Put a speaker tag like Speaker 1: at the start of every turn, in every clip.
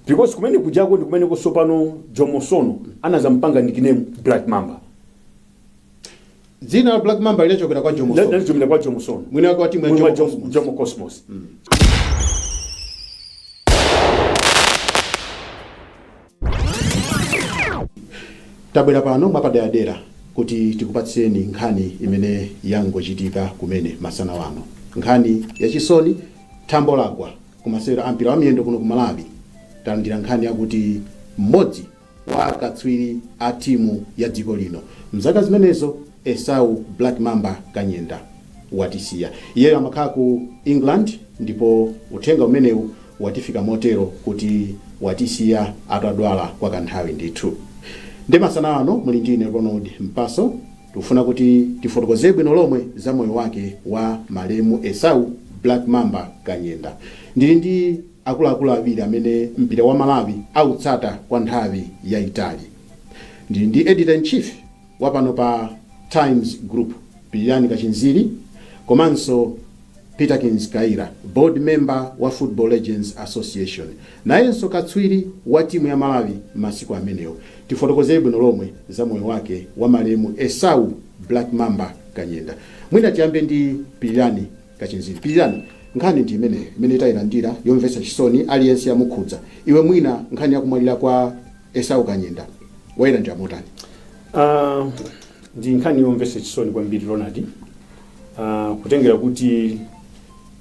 Speaker 1: because kumene kujako ndi kumene ku Sopano Jomo Sono anazampanga nickname black
Speaker 2: mamba dzina la black mamba linachokera kwa jomo Sono. linachokera kwa Jomo
Speaker 1: Sono mwini wake wa timu ya Mwini wa
Speaker 2: jomo Jomo- Cosmos. jomo cosmos tabwera pano mwapaderadera kuti tikupatseni nkhani imene yangochitika kumene masana wano nkhani yachisoni thambo lagwa Ku masewero a mpira wa miyendo kuno ku Malawi talandira nkhani yakuti m'modzi wa akatswiri a timu ya dziko lino mzaka zimenezo Esau Black Mamba Kanyenda watisiya. Iyeyo amakhala ku England ndipo uthenga umenewu watifika motero kuti watisiya atadwala kwa kanthawi ndithu. Nde masana wano muli ndi ine Ronald Mpaso. Tikufuna kuti tifotokoze bwino lomwe za moyo wake wa malemu Esau Black Mamba Kanyenda. Ndili ndi akuluakulu awiri amene mpira wa Malawi autsata kwa nthawi yaitali. Ndili ndi Editor in Chief wa pano pa Times Group, Pilirani Kachinziri komanso Peterkins Kaira, board member wa Football Legends Association, nayenso katswiri wa timu ya Malawi masiku amenewo, tifotokoze bwino lomwe za moyo wake wa malemu Esau Black Mamba Kanyenda. Mwina tiyambe ndi Pilirani Kachinziri. Pilirani, nkhani ndi imeneyo imene tayilandira yomvetsa chisoni, aliyense yamukhudza. Iwe mwina nkhani ya kumwalira kwa Esau Kanyenda wayilandira motani? Ah,
Speaker 1: ndi nkhani yomvetsa chisoni kwambiri Ronald uh, kutengera kuti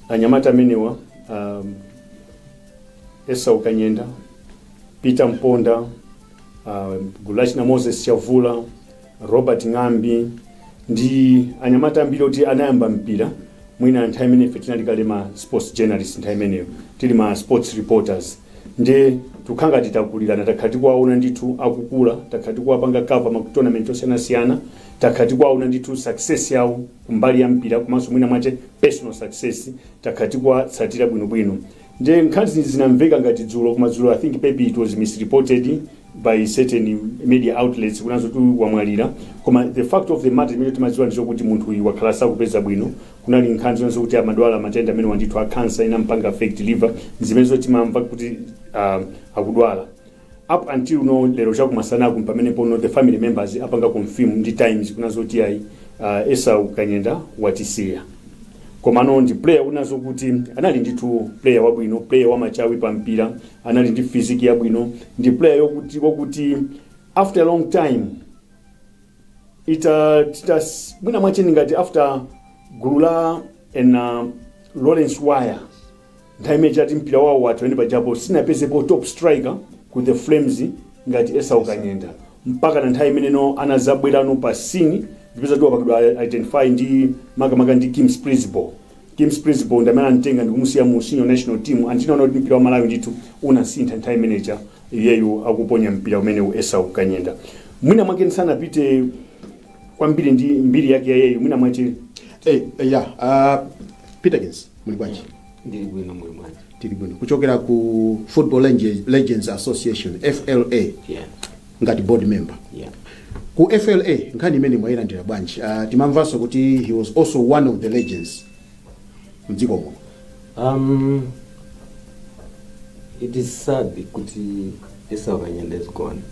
Speaker 1: anyamata amenewa um, esau kanyenda peter mponda uh, gulachina moses chavula robert ng'ambi ndi anyamata ambiri oti anayamba mpira mwina nthawi imene ife tinali kale ma sports journalist nthawi imeneyo tili ma sports reporters nde tikukhala ngati takulirana takhala tikuwaona ndithu akukula takhala tikuwapanga cover ma tournament osiyanasiyana takhala tikuwaona ndithu success yawo kumbali ya mpira komanso mwina mwache personal success takhala tikuwatsatira bwinobwino nde nkhani zinamveka ngati dzulo kumadzulo i think maybe it was misreported by certain media outlets kunena zoti wamwalira koma the fact of the matter imene timadziwa ndi zokuti munthu uyu wakhala sakupeza bwino Kunali nkhani zina zokuti amadwala matenda amenewa ndithu a cancer inampanga affect liver ndizimenezo timamva kuti uh, akudwala up until no lero chakumasanaku mpamenepo no the family members apanga confirm ndi times kunena zoti ayi uh, esau kanyenda watisiya komano ndi player kunena zokuti anali ndithu player wabwino player wamachawi pa mpira anali ndi physique yabwino ndi player yokuti wakuti after a long time ita tita mwina mwacheni ngati after gulu la ena Lawrence Waya nthawi imeneyo kuti mpira wawo wathu ene pajapo sinapezepo top striker ku the Flames ngati Esau Kanyenda mpaka na nthawi imeneyo anazabwerano pa scene ndikupeza kuti wapangidwa identify ndi makamaka ndi Kim Splidsboel Kim Splidsboel ndi amene anamtenga ndikumusiya mu senior national team and tinaona kuti mpira wa Malawi ndithu unasintha nthawi imeneja iyeyu akuponya mpira umenewu Esau Kanyenda mwina mwake ndisanapite kwambiri ndi mbiri yake ya iyeyu mwina mwache Eh, eh, ya
Speaker 2: uh, peterkins muli bwanji ndili bwino muli
Speaker 3: bwanji tili bwino kuchokera
Speaker 2: ku football Lenge- legends association fla yeah ngati board member yeah. ku fla nkhani imeneyi mwayilandira bwanji uh, timamvanso kuti he was also one of the legends mdziko muno Um,
Speaker 3: it is sad kuti Esau Kanyenda is gone.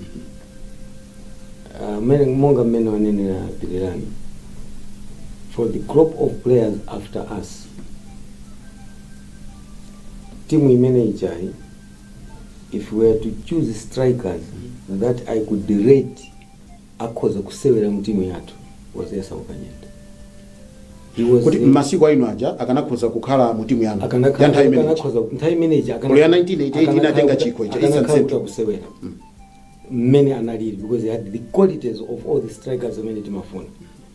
Speaker 3: Uh, monga mmene wanenera Pilirani. For the crop of players after us, timu imene ijayi if we were to choose strikers that i could rate akhoza kusewera mu timu yathu was Esau Kanyenda he was kuti mmasiku anu aja
Speaker 2: akanakhoza kukhala mu timu yanu ya nthawi imene ija nthawi imene
Speaker 3: ija Olo
Speaker 2: ya 1988 inatenga chikho cha East and Central.
Speaker 3: kusewera mmene analili because he had the qualities of all the strikers amene timafuna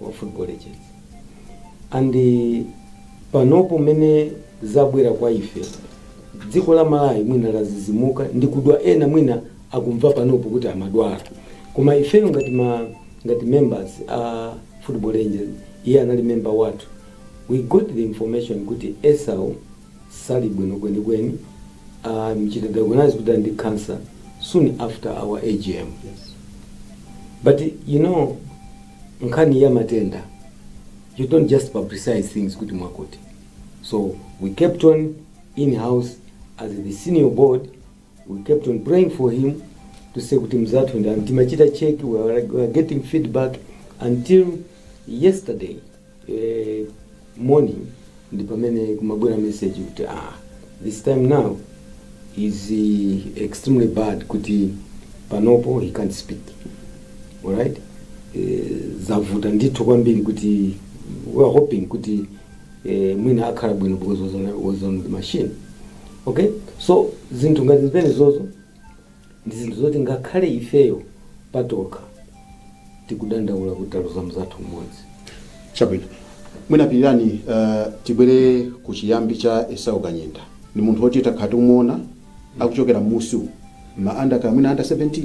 Speaker 3: wa football legends and panopo mmene zabwera kwa ife dziko la malawi mwina lazizimuka ndi kudabwa ena mwina akumva panopo kuti amadwala koma ifeyo ngati ma ngati members a football legends iye anali member wathu we got the information kuti esau Sali bwino kwenikweni amuchita diagnose kuti ali ndi cancer soon after our
Speaker 2: agm but
Speaker 3: you know nkhani ya matenda you don't just publicize things kuti mwakuti so we kept on in house as the senior board we kept on praying for him to say kuti mzathu and timachita check we were, we were getting feedback until yesterday eh, morning ndi pamene kumabwera message kuti ah, this time now is eh, extremely bad kuti panopo he can't speak alright eh, zavuta ndithu kwambiri kuti we are hoping kuti eh, mwina akhala bwino because was on, was on the machine okay so zinthu ngati zimenezozo Ndi zinthu zoti ngakhale ifeyo patokha tikudandaula kuti taluza mzathu mmodzi. Chabwino.
Speaker 2: Mwina Pilirani tibwere kuchiyambi cha Esau Kanyenda. Ndi munthu woti takhala tikumuona akuchokera mmusi umu. Mma under kaya mwina under 17,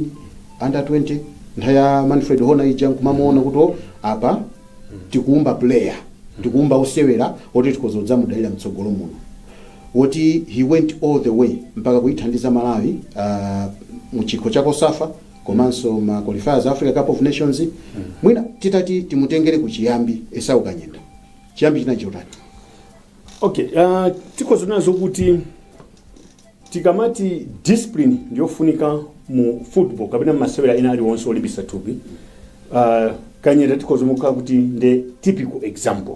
Speaker 2: under 20, nthawi ya Manfred Hoener ija nkumamuona kuti oh, apa tikuumba player, tikuumba osewera oti tikhoza kudzamudalira mtsogolo muno. woti he went all the way mpaka kuithandiza Malawi uh, mu chikho cha Cosafa komanso ma qualifiers a Africa Cup of Nations mwina titati timutengere ku chiyambi Esau Kanyenda chiyambi chinali chotani
Speaker 1: okay uh, tikhoza kunena zokuti tikamati discipline ndiyofunika mu football kapena masewera ena aliwonse olimbitsa thupi uh, kanyenda tikhoza kumuika kuti nde typical example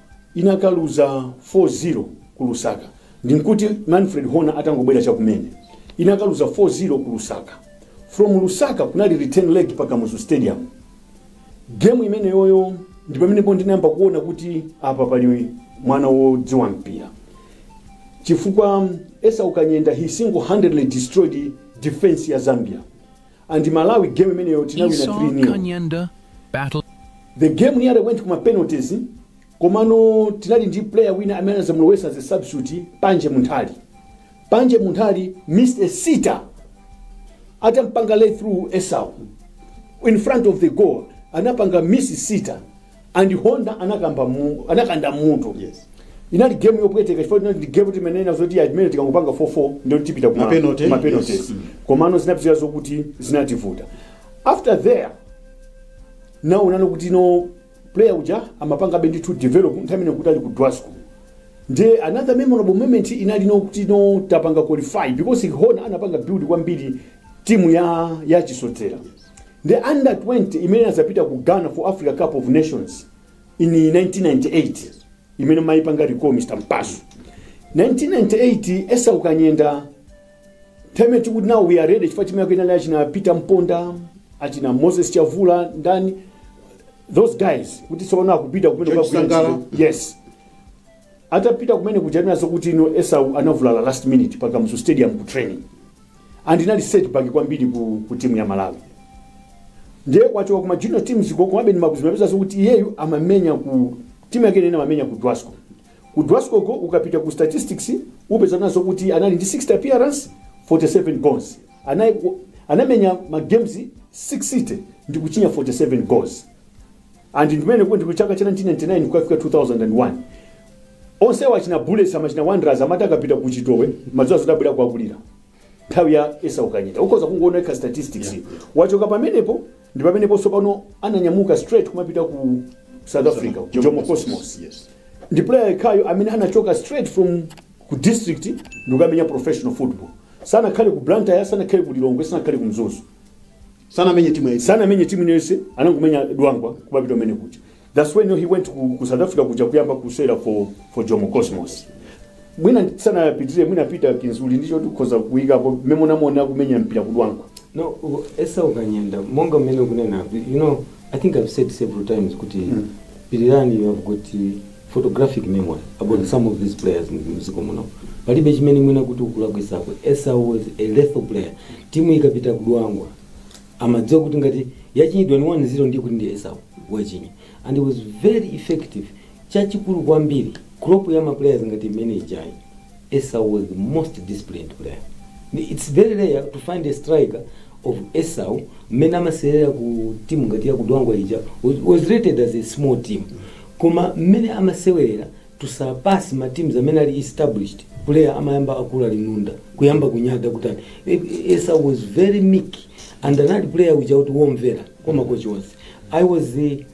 Speaker 1: inakaluza 4 0 ku lusaka ndinkuti manfred hoener atangobwera chakumene inakaluza 4 0 ku lusaka from lusaka kunali return leg pa kamuzu stadium gemu imeneyoyo ndi pamenepo ndinayamba kuona kuti apa pali mwana wodziwa mpira chifukwa esau kanyenda he single handedly destroyed defense ya zambia and malawi game imeneyo tinawina Esau 3 nil Kanyenda but
Speaker 4: the
Speaker 1: game nearly went kuma penalties komano tinali ndi player wina amene anazamulowesa as a substitute panje munthali panje munthali missed a sitter atampanga lay through esau in front of the goal anapanga miss sitter and hoener anakamba mu, anakanda mutu Yes.
Speaker 2: inali
Speaker 1: game yopweteka chifukwa inali ndi game timanena zoti imene tikangopanga 4-4 ndiye tipita kuma- Mapenalty, kuma penalties. yes. Mm. komano zinapitirira zokuti zinativuta after there now unaona kuti no player uja amapangabe ndithu develop nthawi imene kuti ali ku dwasco nde another memorable moment inali nkuti no tapanga qualify because hoener anapanga build kwambiri timu ya ya chisodzera ndi under 20 imene inadzapita ku Ghana for Africa Cup of Nations in 1998 imene mayipanga recall Mr. Mpasu 1998 Esau Kanyenda time tikuti now we are ready chifukwa timu yake inali achina Peter Mponda achina Moses Chavula ndani those guys kuti tsopano akupita kumene George kukagwira Sangala. ntchito. yes atapita kumene kuja kunena zokuti no Esau anavulala last minute pa Kamuzu Stadium ku training and inali setback kwambiri ku, ku timu ya malawi ndiye kuchoka kuma junior teams ko komabe ndimakuzimapeza zokuti iyeyu amamenya ku timu yake imene amamenya ku dwasco ku dwasco ko ukapita ku statistics upeza kunena zokuti anali ndi 60 appearance 47 goals Ana, anamenya ma games 60 ndi kuchinya 47 goals and ndimene kuti kuchaka cha 1999 kukafika 2001 onsewa achina bullets amachina wanderers amati akapita ku chitowe amadziwa zoti abwera kuwakulira nthawi ya esau kanyenda ukhoza kungoona yekha statistics wachoka pamenepo ndi pamenepo tsopano ananyamuka straight kumapita ku south africa ku jomo cosmos Yes. ndi
Speaker 2: player
Speaker 1: yekhayo amene anachoka straight from ku district ndikukamenya professional football sanakhale ku blantyre sanakhale ku lilongwe sanakhale ku mzuzu
Speaker 2: sanamenye timu yayi sanamenye timu iliyonse anangomenya dwangwa kupita umene kuja thats when he went ku, ku south africa kuja kuyamba kusewera for, for jomo cosmos mwina sanapitire mwina peter kinzuli ndicho tikhoza kuyikapo mmene munamuona kumenya mpira kudwangwa no
Speaker 3: u- esau kanyenda monga mmene ukunena you know i think i've said several times kuti Mm. pirirani you have got uh, photographic memory about some of these players m'dziko muno palibe chimene mwina kuti ukulakwitsako esau was a lethal player timu ikapita kudwangwa umadziwa kuti ngati yachinyidwa ni 1-0 ndiye kuti ndi esau wachinya and he was very effective chachikulu kwambiri crop ya maplayers ngati imene ijayi Esau was the most disciplined player ndi its very rare to find a striker of Esau mmene amasewelera ku team ngati ya ku Dwangwa ija was- was rated as a small team koma mmene amasewelera to surpass ma teams amene ali established player amayamba akula linunda kuyamba kunyada kutani E- e- Esau was very meek and anali player uja kuti womvera kwa makochi onse I was the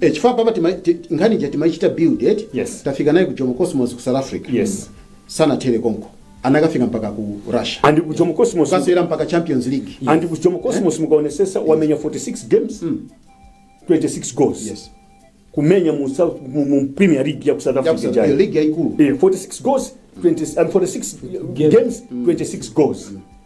Speaker 1: e
Speaker 2: chifukwa apapa tima- ti- nkhani ija timaichita build eti Yes. tafika naye ku
Speaker 1: jomo
Speaker 2: cosmos ku south africa
Speaker 1: Yes. sanathere komko
Speaker 2: anakafika mpaka ku russia and ku jomo cosmos
Speaker 1: kasewera mpaka champions
Speaker 2: league and ku jomo cosmos
Speaker 1: mukaonetsetsa wamenya 46 games 26 goals
Speaker 2: yes kumenya
Speaker 1: mu, South- mu, mu premier league ya ku south africa ija. league yaikulu Eh, 46
Speaker 2: goals 20,
Speaker 1: and 46 games 26 goals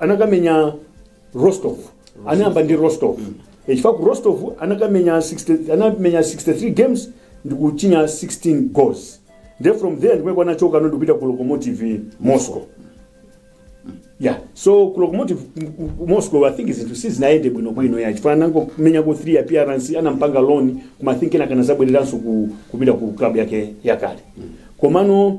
Speaker 1: anakamenya rostov anayamba ndi rostov Eh, chifukwa ku rostov anakamenya 60 anamenya 63 games ndi kuchinya 16 goals nde from there ndi uko anachokano ndikupita ku locomotive moscow yeah so ku locomotive m- m- moscow i think zinthu sizinayende bwinobwino yayi chifukwa anangomenyako 3 appearance anampanga loan koma i think kenaka anadzabwereranso ku, kupita ku club yake yakale komano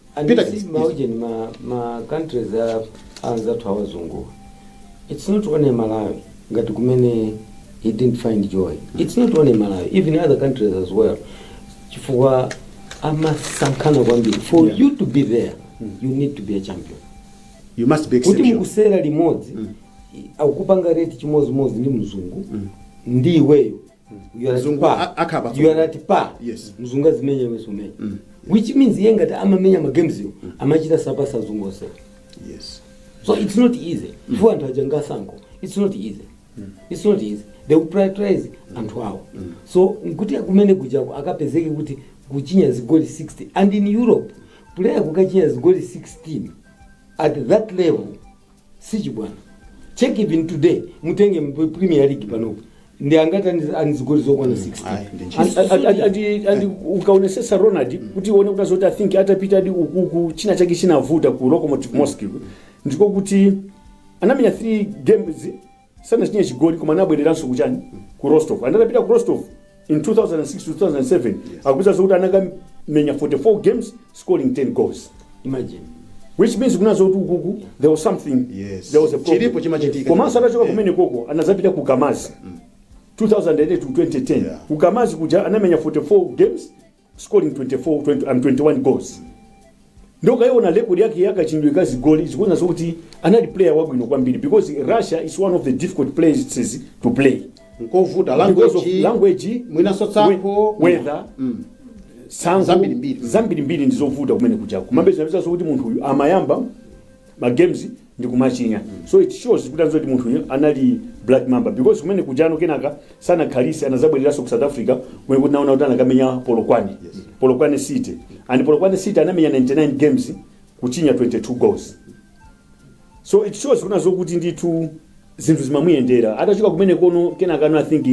Speaker 3: And Peter, you see, yes. Maujeni, ma, ma countries a anzathu awazungu it's not only malawi ngati kumene he didn't find joy it's not only malawi even other countries as well chifukwa amasankhana kwambiri for Yeah. you to be there you need to be a champion you must be kuti
Speaker 2: exceptional mukusewera limodzi
Speaker 3: akupanga rate chimodzimodzi ndi mzungu ndi iweyo You are Mzungu pa. a- akhala pa- You are at pa. Yes. mzungu
Speaker 2: azimenya
Speaker 3: iwe sumenya which means iye ngati amamenya magames yo amachita surpass azungu onse yes
Speaker 2: so it's not
Speaker 3: easy chifukwa anthu aja ngatsankho it's not easy it's not easy they will prioritize anthu awo so kuti kumene kujako akapezeke kuti kuchinya zigoli 16 and in europe player kukachinya zigoli 16 at that level si chibwana check even today mutenge mp- premier league panopo ndi angati ani- ani zigoli zokwana 16 ayi, ndi ntchito. Andi- andi- andi- andi- andi
Speaker 1: ukaonesesa ronald kuti uone kuna zoti i think atapita adi ukuku china chake chinavuta ku lokomotiv moscow ndiko kuti anamenya 3 games sanachinye chigoli koma anabwereranso kuchani ku rostov anatapita ku rostov in 2006 2007 akupeza zokuti anakamenya 44 games scoring 10 goals imagine
Speaker 3: which means
Speaker 1: kuna zokuti ukuku there was something Yes. there was a problem.
Speaker 2: Chilipo
Speaker 1: chimachitika.
Speaker 2: komanso atachoka Yeah. kumene
Speaker 1: koko anazapita ku kamaz 2008 to 2010 Yeah. ku kamaz kuja
Speaker 2: anamenya
Speaker 1: 44 games scoring 24 20 and 21 goals ndiye ukaiona record yake ya kachinyidwe ka zigoli zikuona zokuti anali player wabwino kwambiri because russia is one of the difficult places to play nkovuta
Speaker 2: because of
Speaker 1: language language mwinaso tsankho
Speaker 2: we-
Speaker 1: weather Mm. tsankho Zambirimbiri. zambirimbiri ndizovuta kumene kujako kumapeza napeza zokuti munthu uyu amayamba ma games ndikumachinya so it shows kuna zoti munthuyu anali black mamba because kumene kujano kenaka sanakhalise anazabwereranso ku south africa kumeneku tinaona kuti anakamenya polokwane polokwane city and polokwane city anamenya 99 games kuchinya 22 goals so it shows kuna zokuti ndithu zinthu zimamuyendera atachoka kumene kono kenaka no i think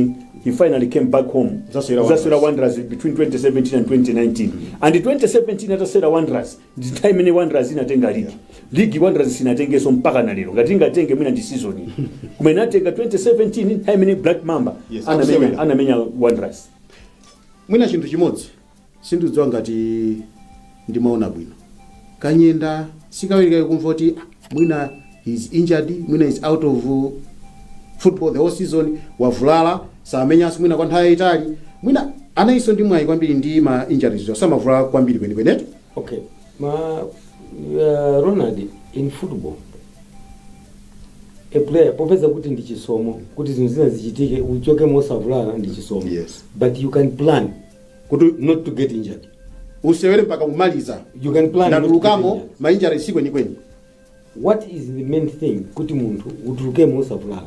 Speaker 1: he finally came back home Zasewera Wanderers. Zasewera wanderers between 2017 and 2019 and 2017 atasewera wanderers ndi time imene wanderers inatenga ligi ligi wanderers sinatengeso mpaka na lero ngati ingatenge mwina ndi season iyi koma inatenga 2017 time imene black mamba Yes, anamenya absolutely. anamenya wanderers
Speaker 2: mwina chinthu chimodzi sindidziwa ngati ndimaona bwino kanyenda si kawirikawiri kumva kuti "Ah, mwina he is injured mwina is out of football the whole season wavulala samenyanso mwina kwa nthawi yayitali mwina analinso ndi mwayi kwambiri ndi ma injuries samavulala kwambiri kwenikwenetu okay
Speaker 3: ma uh, ronald in football a player popeza kuti ndi chisomo kuti zinthu zina zichitike uchoke mosavulala ndi chisomo Yes. but you can
Speaker 2: plan
Speaker 3: kuti not to
Speaker 2: get
Speaker 3: injured usewere mpaka
Speaker 2: kumaliza You can plan not to
Speaker 3: ndatulukamo get injured. mainjare si
Speaker 2: kwenikweni what
Speaker 3: is the main thing kuti munthu utulukemo usavulala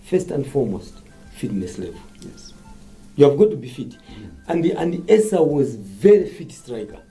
Speaker 3: first and foremost fitness level
Speaker 2: you have got to
Speaker 3: be fit and, and esa was very fit striker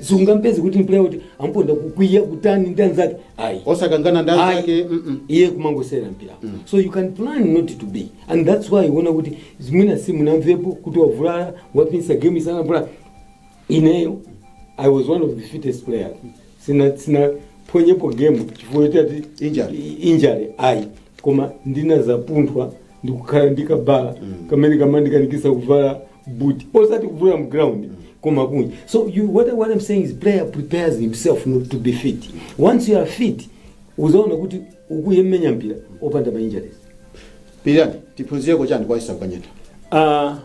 Speaker 2: sungampeze kuti
Speaker 3: player kuti amponda kukwiya kutani ndi anzake ayi osakangana ndi anzake
Speaker 2: Ayi. mm-mm. iye kumangosewera
Speaker 3: mpira so you can plan not to be and that's why uona kuti mwina simunamvepo kuti wavulala wapinsa game isanavulala ineyo i was one of the fittest players sina sinaphonyepo game chifukwa choti ati Injury. i- injury ayi koma ndinazapunthwa ndikukhala ndi kabudula kamene kamandikanikisa kuvala buti osati kuvula m'ground koma kunja so you, what, I- what i'm saying is player prepares himself not to be fit once you are fit uzaona kuti ukumenya mpira opanda ma injuries pirirani
Speaker 2: tiphunzireko chani kwa esau kanyenda uh,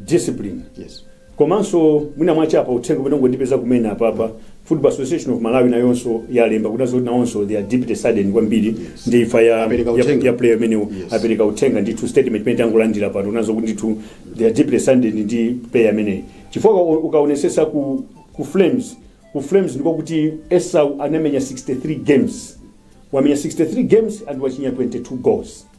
Speaker 1: discipline yes
Speaker 2: Komanso
Speaker 1: mwina mwache apa uthenga umene wangondipeza kumene apapa Football Association of Malawi nayonso yalemba kunena zoti nawonso they are deeply saddened kwambiri ndi imfa ya, Apereka ya, uthenga. ya player ameneyo Yes. apereka uthenga ndithu statement imene tangolandira pano kunena zokuti ndithu they are deeply saddened ndi player ameneyi chifukwa u- ukaonesesa ku, ku flames ku flames ndiko kuti esau anamenya 63 games wamenya 63 games and wachinya 22 goals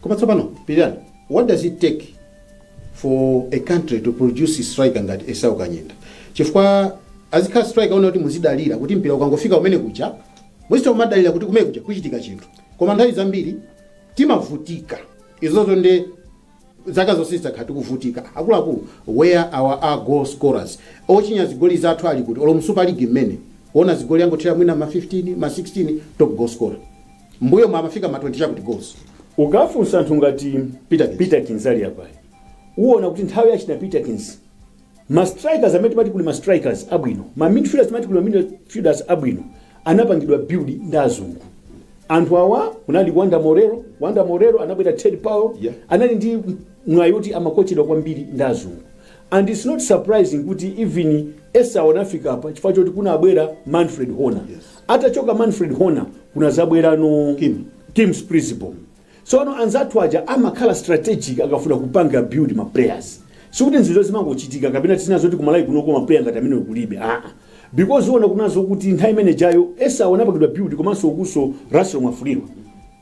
Speaker 3: koma
Speaker 2: tsopano pirirani what does it take for a country to produce a striker ngati esau kanyenda chifukwa azikhala striker woona kuti muzidalira kuti mpira ukangofika kumene kuja muzichita kumadalira kuti kumene kuja kuchitika chinthu koma nthawi zambiri timavutika izozo ndi zaka zonse zakhala tikuvutika akuluakulu where are our goal scorers ochinya zigoli zathu ali kuti olo mu super league mmene kuona zigoli angothera mwina ma 15 ma 16 top goal scorer M'mbuyomu amafika ma 20 chakuti goals. Ukafunsa
Speaker 1: anthu ngati Peterkins. Peterkins ali apayi, uona kuti nthawi ya achina Peterkins ma strikers amene timati kuli ma strikers abwino, ma midfielders timati kuli ma midfielders abwino anapangidwa build ndi azungu. Anthu awa kunali Wonder Moreira, Wonder Moreira anabwera Ted Powell, Yeah. anali ndi mwayi woti amakochedwa kwambiri ndi azungu. And it's not surprising kuti even Esau anafika apa chifukwa choti kunabwera Manfred Hoener. Yes. Atachoka Manfred Hoener kunazabwerano Kim, Kim Splidsboel. Tsopano anzathu aja amakhala strategic akafuna kupanga build ma players. Sikuti izizo zimangochitika kapena tizinena zoti kumalawi kunoko ma player ngati amenewo kulibe. Ah ah. Because uona kunena zokuti nthawi imene ijayo Esau anapangidwa build komanso kunso Russell Mwafulirwa.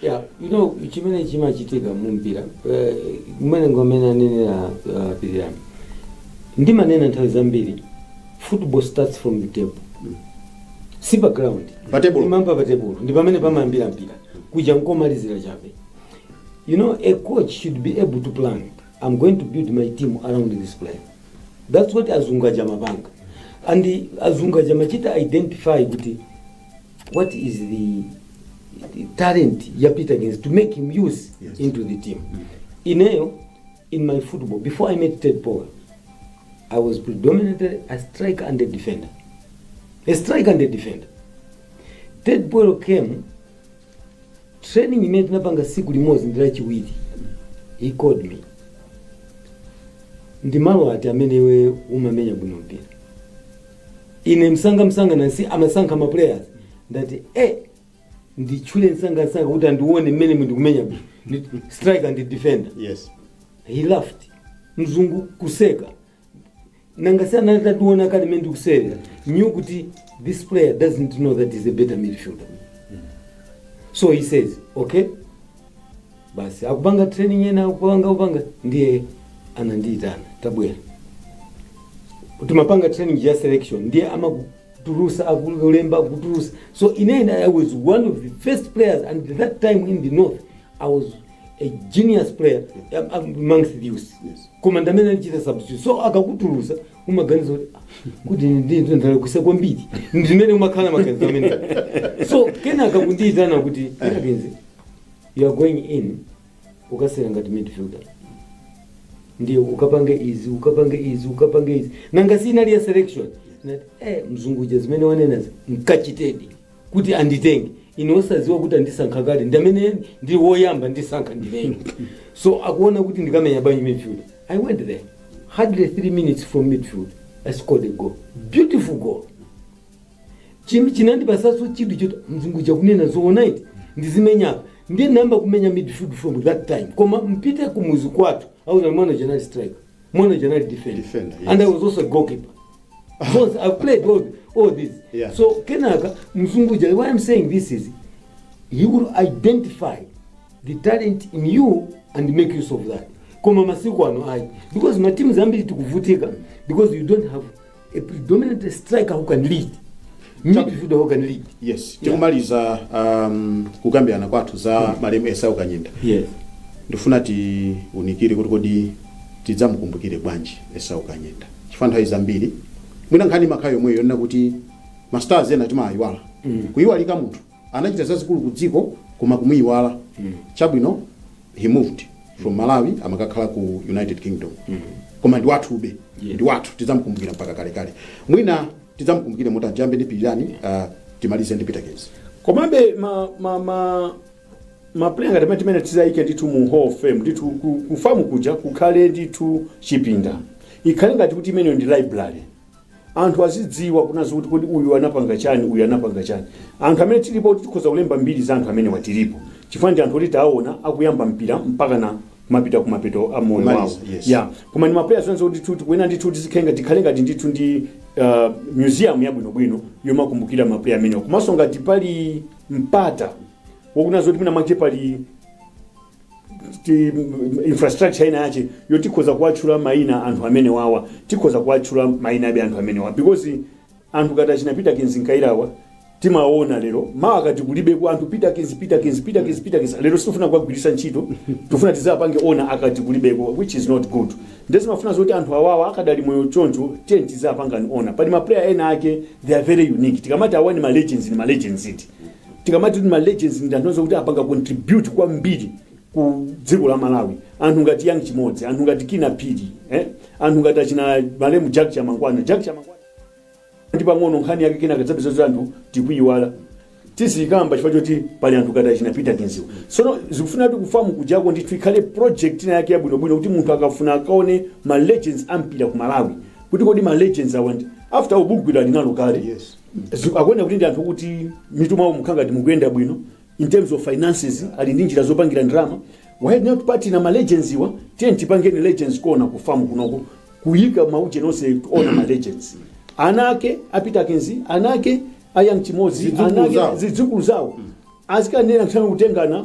Speaker 2: Yeah, you
Speaker 3: know chimene chimachitika mu mpira eh, mmene mmene anenera uh, pirirani ndimanena nthawi zambiri football starts from the table si pa ground Pa table. imayamba pa table ndi pamene pamayambira mpira kuja nkomalizira chabe you know a coach should be able to plan i'm going to build my team around this player that's what azungu aja amapanga and azungu aja amachita identify kuti what is the talent ya peterkins to make him use Yes. into the team ineyo in my football before i met ted powell i was predominantly a striker and a defender a striker and a defender ted powell came training imene tinapanga siku limodzi ndi lachiwiri he called me ndi malo ati amene iwe umamenya bwino mpira ine msanga msanga nanga si amasankha ma players ndati eh nditchule msanga msanga kuti andione mmene ndikumenya bwino. Ndi- striker ndi defender yes
Speaker 2: he laughed
Speaker 3: mzungu kuseka nanga si anationa kale mmene ndikusewera knew kuti this player doesn't know that he's a better midfielder so he says okay basi akupanga training ena akupanga kupanga ndiye anandiitana tabwera kuti timapanga training ya selection ndiye amakutulusa akulemba akutulusa so in the end i was one of the first players and at that time in the north i was a genius player am- am- amongst the youth Yes. koma
Speaker 2: ndamene
Speaker 3: anachita substitute so akakutulusa umaganiza kuti "Ah, kuti ndalakwitsa kwambiri ndimene umakhala maganizo amene so kenaka akundiitana kuti Kinnah You are going in ukasewera ngati midfielder ndiye ukapange izi ukapange izi ukapange izi nanga si inali ya selection Ndati, eh, mzunguja zimene wanenazi nkachitedi kuti anditenge ine osaziwa kuti andisankha kale ndamene ndi woyamba kundisankha ndine so akuona kuti ndikamenya bwanji midfield i went there hardly three minutes from midfield i scored a goal beautiful goal Chim- chinandipatsanso chidwi choti mzungu chakunena zoona eti ndizimenya ndiye nayamba kumenya midfield from that time koma mpite ku muzi kwathu i was mwana general striker mwana general defender, Defender, yes. and i was also a goalkeeper Because I've played all, all this. Yeah. So Kenaka, Mzungu uja, why I'm saying this is he will identify the talent in you and make use of that. Koma masiku ano ayi. Because mateams ambiri tikuvutika because you don't have a predominant striker who can lead midfielder who can lead yes
Speaker 2: tikumaliza um, kukambirana kwathu za malemu esau kanyenda yes
Speaker 3: ndifuna
Speaker 2: tiunikire kuti kodi tidzamukumbukire bwanji esau kanyenda chifukwa nthawi zambiri mwina nkhani imakhala yomweyo yonena kuti mastars ena timawayiwala kuyiwalika munthu anachita zazikulu ku dziko koma kumuyiwala chabwino he moved from malawi amakakhala ku united kingdom koma ndi wathube Yeah. ndi wathu tidzamukumbukira mpaka kalekale mwina tidzamukumbukire motani tiyambe ndi pilirani uh, timalize ndi peterkins komabe
Speaker 1: ma ma ma maplayer ngati amene amene tizawayike ndithu mu hall of fame ndithu ku- kufamu kuja kukhale ndithu chipinda ikhale ngati kuti imeneyo ndi library anthu azidziwa kunena kuti kodi uyu anapanga chani uyu anapanga chani anthu amene tilipo kuti tikhoza kulemba mbiri za anthu amenewa tilipo chifukwa ndi anthu oti taona akuyamba mpira mpaka na kumapita kumapeto a moyo Kumaliza, wawo yes. ya koma
Speaker 2: ndi
Speaker 1: maplayers onse kuti tikuti kunena ndithu tizikhale ngati tikhale ngati ndithu ndi uh, museum yabwinobwino yomakumbukira maplayer amenewa komanso ngati pali mpata wokunena zoti mwina mwake pali ti- infrastructure ina yache yoti khoza kuwatchula maina anthu amene wawa tikhoza kuwatchula maina abe anthu amene wawa because anthu ngati achina peterkins kayirawa timaona lero mawa akati kulibeko anthu peterkins peterkins peterkins peterkins lero sitifuna kuwagwiritsa ntchito tifuna tizapange honour akati kulibeko which is not good nde zimafuna zoti anthu awawa akadali moyo choncho tiye tizapangeni honour pali maplayer ena ake they are very unique tikamati awa ni ma legends ni ma legends eti tikamati kuti ma legends ndi anthu onse kuti apanga contribute kwambiri ku dziko la malawi anthu ngati young chimodzi anthu ngati kinnah phiri eh? anthu ngati achina malemu jack chamangwana jack chamangwana ndi pang'ono nkhani yake kina kadzapeza kuti anthu tikuyiwala tizikamba chifukwa choti pali anthu ngati achina peterkinswa sono zikufuna kuti ku fam kujako ndithu ikhale project ina yake yabwinobwino kuti munthu akafuna akaone ma legends a mpira ku malawi kuti kodi ma legends awa ndi after ubugwira linalo kale Yes.
Speaker 2: Zi- akuoneka kuti ndi
Speaker 1: anthu okuti mitu mwawo mukhala ngati mukuyenda bwino in terms of finances ali ndi njira zopangira ndalama why not partner malegendswa tiyeni tipangeni legends corner ku fam kunoko kuyika maujeni onse kuona malegends ana ake a peterkins ana ake a young chimodzi Zidzukulu ana ake zawo. zidzukulu zawo azikanena kuthana kutengana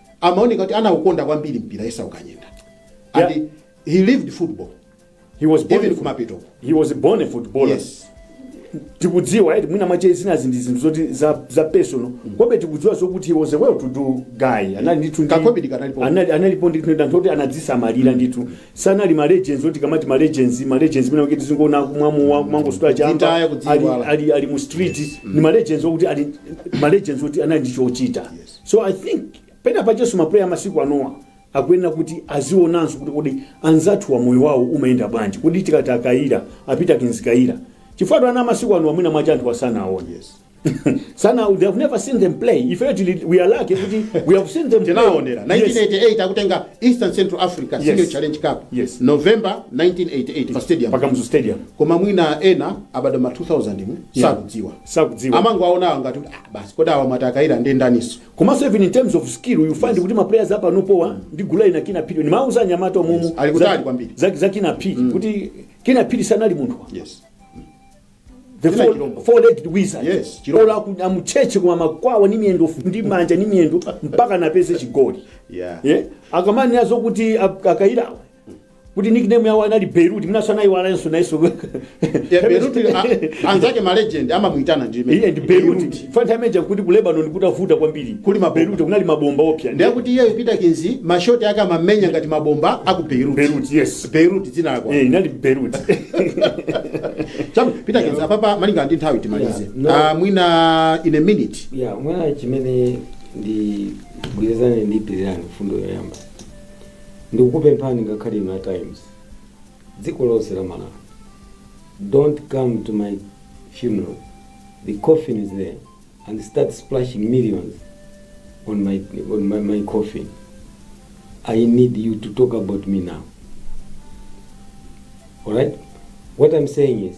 Speaker 2: amaoneka kuti anaukonda kwambiri mpira esau kanyenda and Yeah. he
Speaker 1: lived
Speaker 2: football he was
Speaker 1: born even a- kumapeto he
Speaker 2: was born a
Speaker 1: footballer yes
Speaker 2: tikudziwa
Speaker 1: eti mwina mwache zinazi ndi zinthu zoti za, za personal komabe tikudziwa zokuti he was a well to do guy anali ndithu ndi- Kakobidi kanalipo.
Speaker 2: anali analipo ndithu ndi
Speaker 1: anthu oti anadzisamalira ndithu sanali ma legends oti tikamati ma legends ma legends mwina kuti tizingoona kumwa mowa kumangosuta Kudzitaya, chamba ali, kudziiwala. ali, ali mu street ni ma legends okuti ali ma legends oti anali ndi chochita Yes. so i think pena pachenso mapuleya amasiku anowa akuyenera kuti azionanso kuti kodi anzathuwa moyo wawo umayenda bwanji kodi tikati a kayira a peterkins kayira chifukwatu ana amasiku anowa mwina mwache anthuwa sanawaone yes.
Speaker 2: sana
Speaker 1: they have never seen them play ifeyo tili we are lucky kuti we have seen them play. tinaonera Yes.
Speaker 2: 1988 akutenga east and central africa Yes. senior challenge cup Yes. november 1988 pa stadium pa kamuzu stadium koma
Speaker 1: mwina ena
Speaker 2: abadwa ma 2000 mu Yeah. sakudziwa sakudziwa amangowaonawa ngati kuti ah, basi kodi awa mwati a kayira ndi ndaninso komanso even in
Speaker 1: terms of skill you find kuti ma players a panopowa ndi gulu ina kinnah phiri ndimauza anyamata omumu Yes, ali kutali kwambiri. za, za
Speaker 2: kinnah phiri
Speaker 1: kuti kinnah phiri sanali munthu wa. yes the Kinnah four, chilombo. four legged wizard Yes, chilombo. Olo aku- amucheche koma amakwawa ni miyendo ndi manja ni miyendo mpaka napeze chigoli yeah yeah.
Speaker 2: akamanena
Speaker 1: zokuti a kayira kuti nickname yawo anali beirut mwinanso anayiwalanso nayeso Yeah,
Speaker 2: Beirut, a- anzake ma legend amamuitana ndi limene. iye ndi beirut
Speaker 1: panthawi ija kuti ku lebanon kutavuta kwambiri Kuli mabomba. beirut kunali mabomba oopsa ndiye kuti iyeyo peter mkinzi
Speaker 2: mashoti ake amamenya ngati mabomba aku beirut beirut yes
Speaker 1: beirut dzina lawo
Speaker 2: Eh, inali beirut chabu peter kinzi apapa malinga ndi nthawi timalize Yeah, no. Ah, mwina in a minute ya mwina chimene
Speaker 3: ndigwirizane ndi pirirani mfundo yoyamba ndikukupemphani ngakhale inu a times dziko lonse la malawi dont come to my funeral the coffin is there and start splashing millions on my, on my, my coffin i need you to talk about me now alright what i'm saying is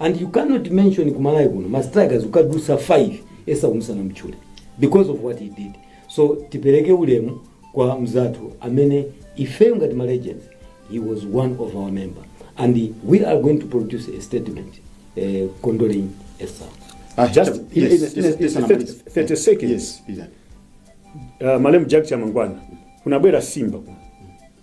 Speaker 3: And you cannot mention ku Malawi kuno ma strikers ukadusa 5 esa umusanamutchule because of what he did. So tipereke ulemu kwa mzathu amene ifeyo ngati ma legends he was one of our member and we are going to produce a statement eh, condoling Esau. Ah, Just Peter,
Speaker 1: in- yes, in- yes, in- yes, in- Sana Maliza. 30 seconds. Yes, Peter. uh, malemu Jack Chamangwana kunabwera Simba kuno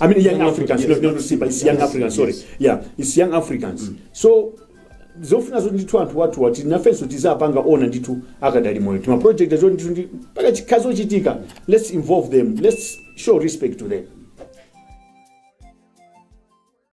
Speaker 2: I mean, young Africans,
Speaker 1: not, not Simba, it's young Africans, sorry. Yeah, it's young Africans. So, zofuna zoti ndithu anthu wathu oti nafenso tizapanga honour ndithu akadali moyo tima project zoti ndithu ndi pakakhala zochitika let's involve them let's show respect to them